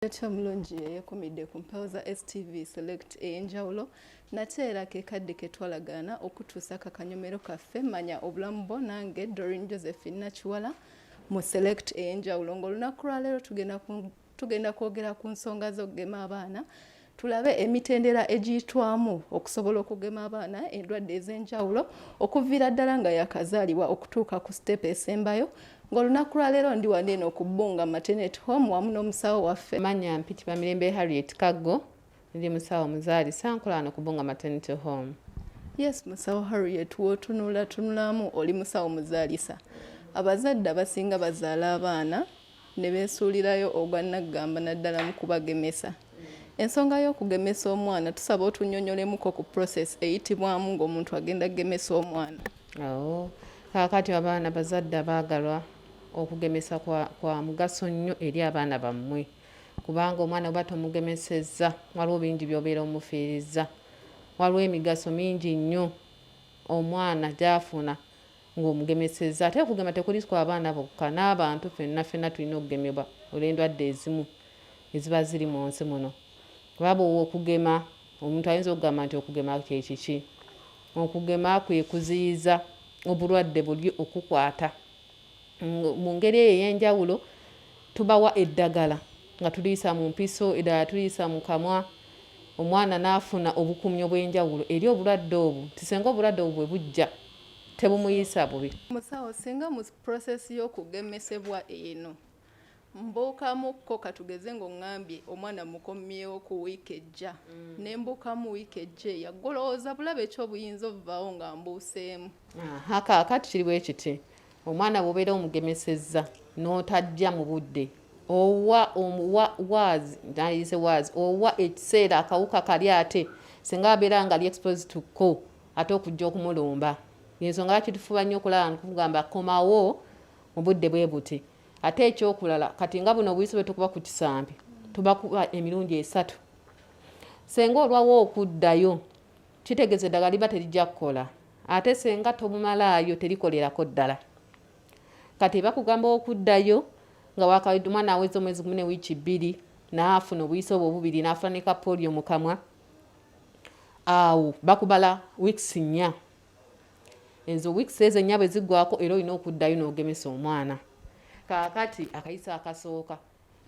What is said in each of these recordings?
ekyo omulungi yeyekumidde ku mpewo za stv select eyenjawulo nate era kekadde ketwalagaana okutuusa kakanyomero kaffe manya obulamu bwo nange dorin josephine nakiwala mu select eyenjawulo ngaolunaku lwaleero tugenda tugenda kwogera ku nsonga z'okugema abaana tulabe emitendera egiyitwamu okusobola okugema abaana endwadde ez'enjawulo okuviira ddala nga yakazaalibwa okutuuka ku sitepu esembayo ng'olunaku lwaleero ndi wano eno ku bbunga matenet home wamu n'omusawo waffe manya mpiti bamirembe harriet kaggo ndi musawo muzaalisa nkola wano ku bbunga matenet home yes musawo harriet wotunulatunulamu oli musawo muzaalisa abazadde abasinga bazaala abaana ne beesuulirayo ogwa nnaggamba naddala mu kubagemesa. Ensonga y'okugemesa omwana tusaba otunyonyolemuko ku process eyitibwamu ng'omuntu agenda kugemesa omwana. Awo kaakati abaana bazadde abaagalwa okugemesa kwa, kwa mugaso nnyo eri abaana bammwe kubanga omwana oba tomugemesezza waliwo bingi by'obeera omufiirizza waliwo emigaso mingi nnyo omwana gy'afuna ng'omugemesezza. Ate okugema tekuli ku abaana bokka, n'abantu fenna fenna tulina okugemebwa olw'endwadde ezimu eziba ziri mu nsi muno. Kuba bw'owa okugema, omuntu ayinza okugamba nti okugema kye kiki? Okugema kwe kuziyiza obulwadde buli okukwata. Mu ngeri eyo ey'enjawulo tubawa eddagala nga tuliyisa mu mpiso, eddala tuliyisa mu kamwa, omwana n'afuna obukuumi obw'enjawulo eri obulwadde obwo nti singa obulwadde obwo bwe bujja, tebumuyisa bubi. Musawo singa mu process y'okugemesebwa eno mbuukamukko katugeze ng'oŋŋambye omwana mukomyewo ku wiiki ejja mm. ne mbuukamu wiiki ejja eya golowooza bulaba ekyobuyinza obuvaawo nga mbuuseemu kaakati kiri bwe kiti omwana bw'obeera omugemesezza n'otajja mu budde owa omuwa waazi nayise waazi owa ekiseera akawuka kali ate singa abeera nga li exposed to ko ate okujja okumulumba yensonga lwaki tufuba nnyo okulaba nkugamba komawo mu budde bwe buti ate ekyokulala kati nga buno obuyisi bwetukuba ku kisambi tubakuba emirundi esatu senga olwawo okuddayo kitegeeza eddagala liba terijja kukola ate senga tobumalaayo terikolerako ddala kati bakugamba okuddayo nga wakawedde omwana aweza omwezi gumu ne wiiki bbiri naafuna obuyisi obwo obubiri naafuna ne kapoliyo mu kamwa awo bakubala weeks nnya ezo weeks ezo ennya bwe ziggwako era olina okuddayo n'ogemesa omwana kaakati akayisa akasooka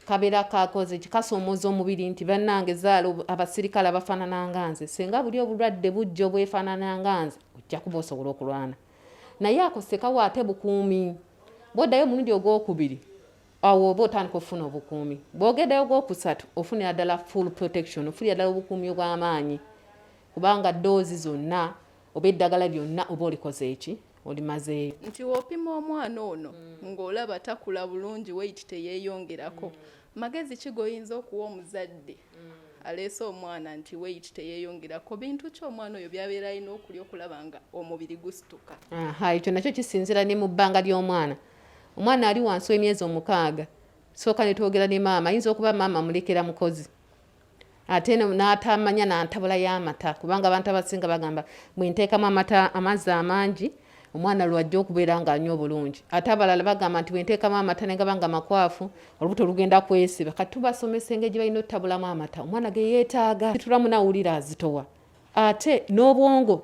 kabeera kakoze kikasoomoza omubiri nti bannange zaala abasirikale abafaanana nga nze singa buli obulwadde bujja obwefaanana nga nze ojja kuba osobola okulwana naye ako sekawo ate bukuumi bwoddayo omulundi ogwokubiri awo oba otandika okufuna obukuumi bwogedeyo gwokusatu ofunira ddala full protection ofunira ddala obukuumi obwamaanyi kubanga doozi zonna oba eddagala lyonna oba olikoze eki olimazeeyo nti wopima omwana ono mm. ng'olaba takula bulungi weyiti teyeyongerako mm. magezi ki goyinza okuwa omuzadde mm. aleese omwana nti weyiti teyeyongerako bintu ki omwana oyo byabeera alina okulya okulaba nga omubiri gusituka ekyo nakyo kisinzira ne mu bbanga ly'omwana omwana ali wansi w'emyezi omukaaga sooka ne twogera ne maama ayinza okuba maama mulekera mukozi ate n'atamanya nantabula y'amata kubanga abantu abasinga bagamba bwe nteekamu amata amazzi amangi omwana lwajja okubeera ng'anywa obulungi ate abalala bagamba nti bwe nteekamu amata ne gaba nga makwafu olubuto lugenda kwesiba kati tubasomesa engeri gye balina otutabulamu amata omwana ge yeetaaga situlamu nawulira azitowa ate n'obwongo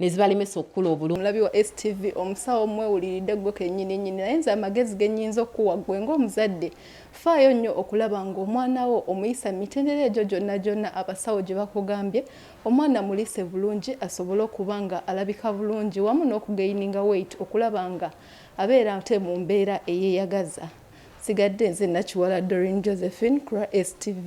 nezibalemesa okukula obulungi omulabi wa stv omusawo mwewuliridde gwe kenyini nyini naye nze amagezi genyinza okukuwa gwe ngaomuzadde faayo nnyo okulaba ngaomwana wo omuyisa mu mitendera egyo gyonna gyonna abasawo gye bakugambye omwana mulise bulungi asobole okuba nga alabika bulungi wamu n'okugeyininga weit okulaba nga abeera ate mu mbeera eyeyagaza sigadde nze nakiwala dorin josephine kura stv